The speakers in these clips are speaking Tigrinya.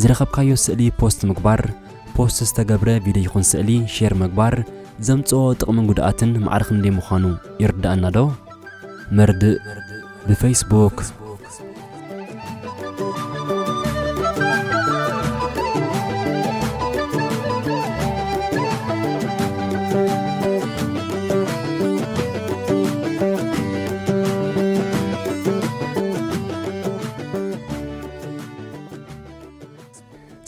ዝረኸብካዮ ስእሊ ፖስት ምግባር፣ ፖስት ዝተገብረ ቪድዮ ይኹን ስእሊ ሼር ምግባር ዘምጽኦ ጥቕምን ጉድኣትን ማዕረ ክንደይ ምዃኑ ይርድኣናዶ? መርድእ ብፈይስቡክ።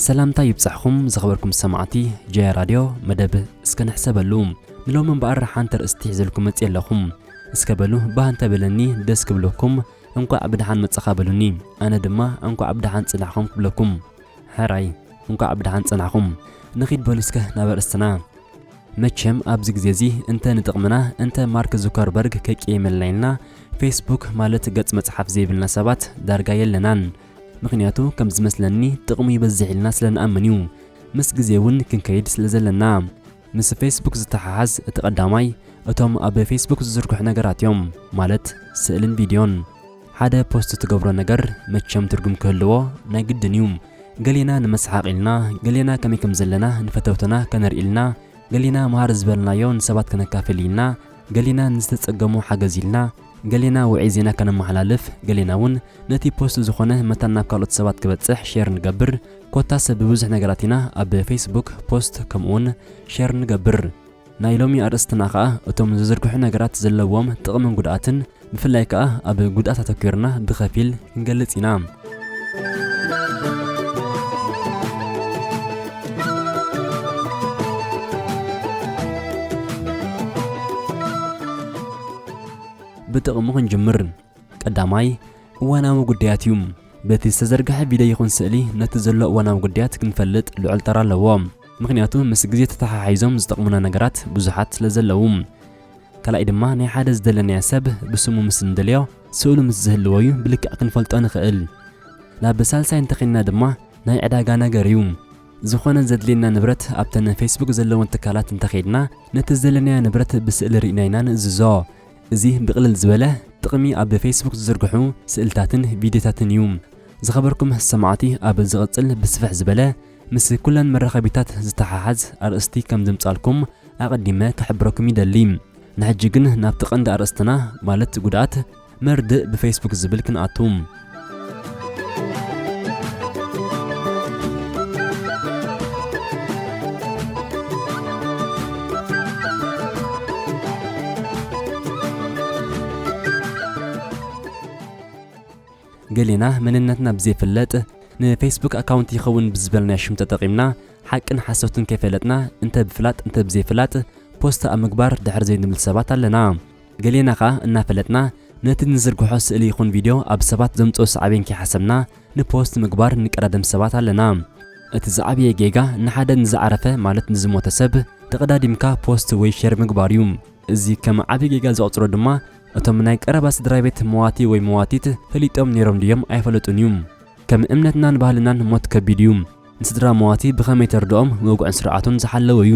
ሰላምታ ይብጻሕኹም ዝኸበርኩም ሰማዕቲ ጀያ ራድዮ መደብ እስከ ንሕሰበሉ ንሎሚ እምበኣር ሓንቲ ርእስቲ ሒዘልኩም መጽእ ኣለኹም እስከ በሉ ባህ እንተበለኒ ደስ ክብለኩም እንኳዕ ብደሓን መጻኻ በሉኒ ኣነ ድማ እንኳዕ ብደሓን ጽናሕኹም ክብለኩም ሕራይ እንኳዕ ብደሓን ጸናሕኹም ንኺድ በሉ እስከ ናብ ኣርእስትና መቸም ኣብዚ ግዜ እዚ እንተ ንጥቕምና እንተ ማርክ ዙከርበርግ ከይቄየመልና ኢልና ፌስቡክ ማለት ገጽ መጽሓፍ ዘይብልና ሰባት ዳርጋ የለናን። ምኽንያቱ ከም ዝመስለኒ ጥቕሙ ይበዝሕ ኢልና ስለ ንኣምን እዩ። ምስ ግዜ እውን ክንከይድ ስለ ዘለና። ምስ ፌስቡክ ዝተሓሓዝ እቲ ቀዳማይ እቶም ኣብ ፌስቡክ ዝዝርግሑ ነገራት እዮም ማለት ስእልን ቪድዮን። ሓደ ፖስት ትገብሮ ነገር መቸም ትርጉም ክህልዎ ናይ ግድን እዩ ገሌና ንመስሓቅ ኢልና ገሌና ከመይ ከም ዘለና ንፈተውትና ከነርኢ ኢልና ገሌና መሃር ዝበልናዮ ንሰባት ከነካፍል ኢልና ገሌና ንዝተጸገሙ ሓገዝ ኢልና ገሌና ውዕይ ዜና ከነመሓላልፍ ገሌና እውን ነቲ ፖስት ዝኾነ መታን ናብ ካልኦት ሰባት ክበጽሕ ሼር ንገብር ኮታስ ብብዙሕ ነገራት ኢና ኣብ ፌስቡክ ፖስት ከምኡውን ሼር ንገብር ናይ ሎሚ ኣርእስትና ከኣ እቶም ዝዝርግሑ ነገራት ዘለዎም ጥቕምን ጉድኣትን ብፍላይ ከኣ ኣብ ጉድኣት ኣተኲርና ብኸፊል ክንገልጽ ኢና። ብጥቕሙ ክንጅምር። ቀዳማይ፣ እዋናዊ ጉዳያት እዩ። በቲ ዝተዘርግሐ ቪድዮ ይኹን ስእሊ ነቲ ዘሎ እዋናዊ ጉዳያት ክንፈልጥ ልዑል ተራ ኣለዎ። ምኽንያቱ ምስ ግዜ ተተሓሒዞም ዝጠቕሙና ነገራት ብዙሓት ስለ ዘለዉ። ካልኣይ ድማ ናይ ሓደ ዝደለናዮ ሰብ ብስሙ ምስ እንደልዮ ስእሉ ምስ ዝህልዎ እዩ ብልክዕ ክንፈልጦ ንኽእል። ናብ ሳልሳይ እንተኼንና ድማ ናይ ዕዳጋ ነገር እዩ። ዝኾነ ዘድልየና ንብረት ኣብተን ፌስቡክ ዘለወን ትካላት እንተኼድና ነቲ ዝደለናዮ ንብረት ብስእሊ ርኢና ኢና ንእዝዞ። እዚ ብቕልል ዝበለ ጥቕሚ ኣብ ፌስቡክ ዝዝርግሑ ስእልታትን ቪድዮታትን እዩ። ዝኸበርኩም ሰማዕቲ ኣብ ዝቕጽል ብስፍሕ ዝበለ ምስ ኩለን መራኸቢታት ዝተሓሓዝ ኣርእስቲ ከም ዘምጽኣልኩም ኣቐዲመ ክሕብረኩም ይደሊ። ንሕጂ ግን ናብቲ ቀንዲ ኣርእስትና ማለት ጉድኣት መርድእ ብፌስቡክ ዝብል ክንኣቱ። ገሌና መንነትና ብዘይፍለጥ ንፌስቡክ ኣካውንት ይኸውን ብዝበል ናይ ሽም ተጠቒምና ሓቅን ሓሶትን ከይፈለጥና እንተ ብፍላጥ እንተ ብዘይፍላጥ ፖስት ኣብ ምግባር ድሕር ዘይንብል ሰባት ኣለና። ገሌና ከኣ እናፈለጥና ነቲ ንዝርግሖ ስእሊ ይኹን ቪድዮ ኣብ ሰባት ዘምጽኦ ሳዕቤን ከይሓሰብና ንፖስት ምግባር እንቀዳደም ሰባት ኣለና። እቲ ዝዓበየ ጌጋ ንሓደ ንዝዓረፈ ማለት ንዝሞተ ሰብ ተቐዳዲምካ ፖስት ወይ ሼር ምግባር እዩ። እዚ ከም ዓቢ ጌጋ ዝቑጽሮ ድማ እቶም ናይ ቀረባ ስድራቤት መዋቲ ወይ መዋቲት ፈሊጦም ኔሮም ድዮም ኣይፈለጡን እዩ። ከም እምነትናን ባህልናን ሞት ከቢድ እዩ። ንስድራ መዋቲ ብኸመይ ተርድኦም ወግዑን ስርዓቱን ዝሓለወ እዩ።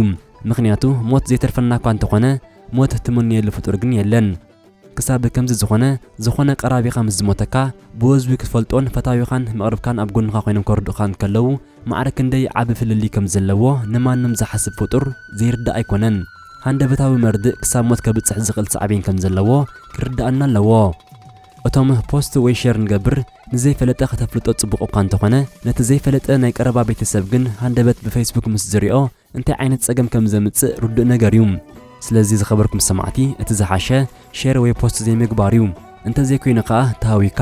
ምኽንያቱ ሞት ዘይተርፈና'ኳ እንተኾነ ሞት እትምነየሉ ፍጡር ግን የለን። ክሳብ ከምዚ ዝኾነ ዝኾነ ቀራቢኻ ምስ ዝሞተካ ብወዝቢ ክትፈልጦን ፈታዊኻን መቕርብካን ኣብ ጎንኻ ኮይኖም ከርድኡኻ እንከለዉ ማዕረ ክንደይ ዓቢ ፍልልይ ከም ዘለዎ ንማንም ዝሓስብ ፍጡር ዘይርዳእ ኣይኮነን። ሃንደበታዊ መርድእ ክሳብ ሞት ከብጽሕ ዝኽእል ሳዕቤን ከም ዘለዎ ክርድኣና ኣለዎ። እቶም ፖስት ወይ ሼር ንገብር ንዘይፈለጠ ከተፍልጦ ጽቡቕ እኳ እንተኾነ ነቲ ዘይፈለጠ ናይ ቀረባ ቤተሰብ ግን ሃንደበት ብፈይስቡክ ምስ ዝሪኦ እንታይ ዓይነት ጸገም ከም ዘምጽእ ርዱእ ነገር እዩ። ስለዚ ዝኸበርኩም ሰማዕቲ እቲ ዝሓሸ ሼር ወይ ፖስት ዘይምግባር እዩ። እንተ ዘይኮይኑ ከኣ ተሃዊካ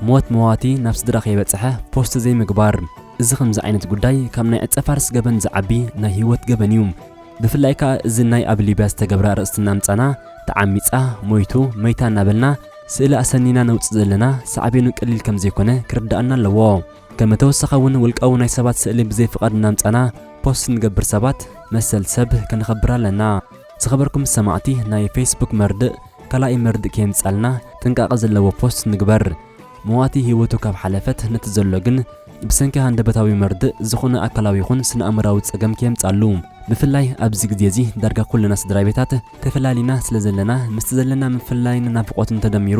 ሞት መዋቲ ናብ ስድራ ከይበጽሐ ፖስት ዘይምግባር። እዚ ከምዚ ዓይነት ጉዳይ ካብ ናይ ዕጸፋርስ ገበን ዝዓቢ ናይ ሂወት ገበን እዩ። ብፍላይ ከኣ እዚ ናይ ኣብ ሊብያ ዝተገብረ ኣርእስቲ እናምጻና ተዓሚጻ፣ ሞይቱ፣ መይታ እናበልና ስእሊ ኣሰኒና ነውጽእ ዘለና ሳዕቤኑ ቀሊል ከም ዘይኮነ ክርደኣና ኣለዎ። ከመ ተወሳኸ እውን ውልቃዊ ናይ ሰባት ስእሊ ብዘይ ፍቓድ እናምጻና ፖስት ንገብር ሰባት መሰል ሰብ ከነኸብር ኣለና። ዝኸበርኩም ሰማዕቲ ናይ ፌስቡክ መርድእ ካላኣይ መርድእ ከየምጻልና ጥንቃቐ ዘለዎ ፖስት ንግበር። መዋቲ ህይወቱ ካብ ሓለፈት ነቲ ዘሎ ግን ብሰንኪ ሃንደበታዊ መርድእ ዝኾነ ኣካላዊ ይኹን ስነኣእምራዊ ጸገም ከየምጻሉ። ብፍላይ ኣብዚ ግዜ እዚ ዳርጋ ኩልና ስድራቤታት ተፈላሊና ስለዘለና ምስቲ ዘለና ምፍልላይን ናፍቖትን ተደሚሩ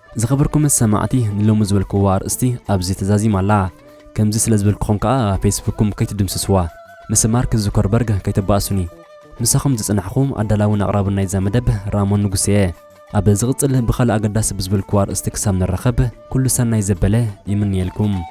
ዝኸበርኩም ሰማዕቲ ንሎሚ ዝበልክዋ ኣርእስቲ ኣብዚ ተዛዚማ ኣላ። ከምዚ ስለ ዝበልክኹም ከኣ ፌስቡክኩም ከይትድምስስዋ። ምስ ማርክ ዙከርበርግ ከይተባእሱኒ። ምሳኹም ዝጸናሕኩ ኣዳላውን ኣቕራብን ናይዛ መደብ ራሞን ንጉሴ'የ። ኣብ ዝቕጽል ብኻልእ ኣገዳሲ ብዝበልክዎ ኣርእስቲ ክሳብ ንራኸብ ኩሉ ሰናይ ዘበለ ይምነየልኩም።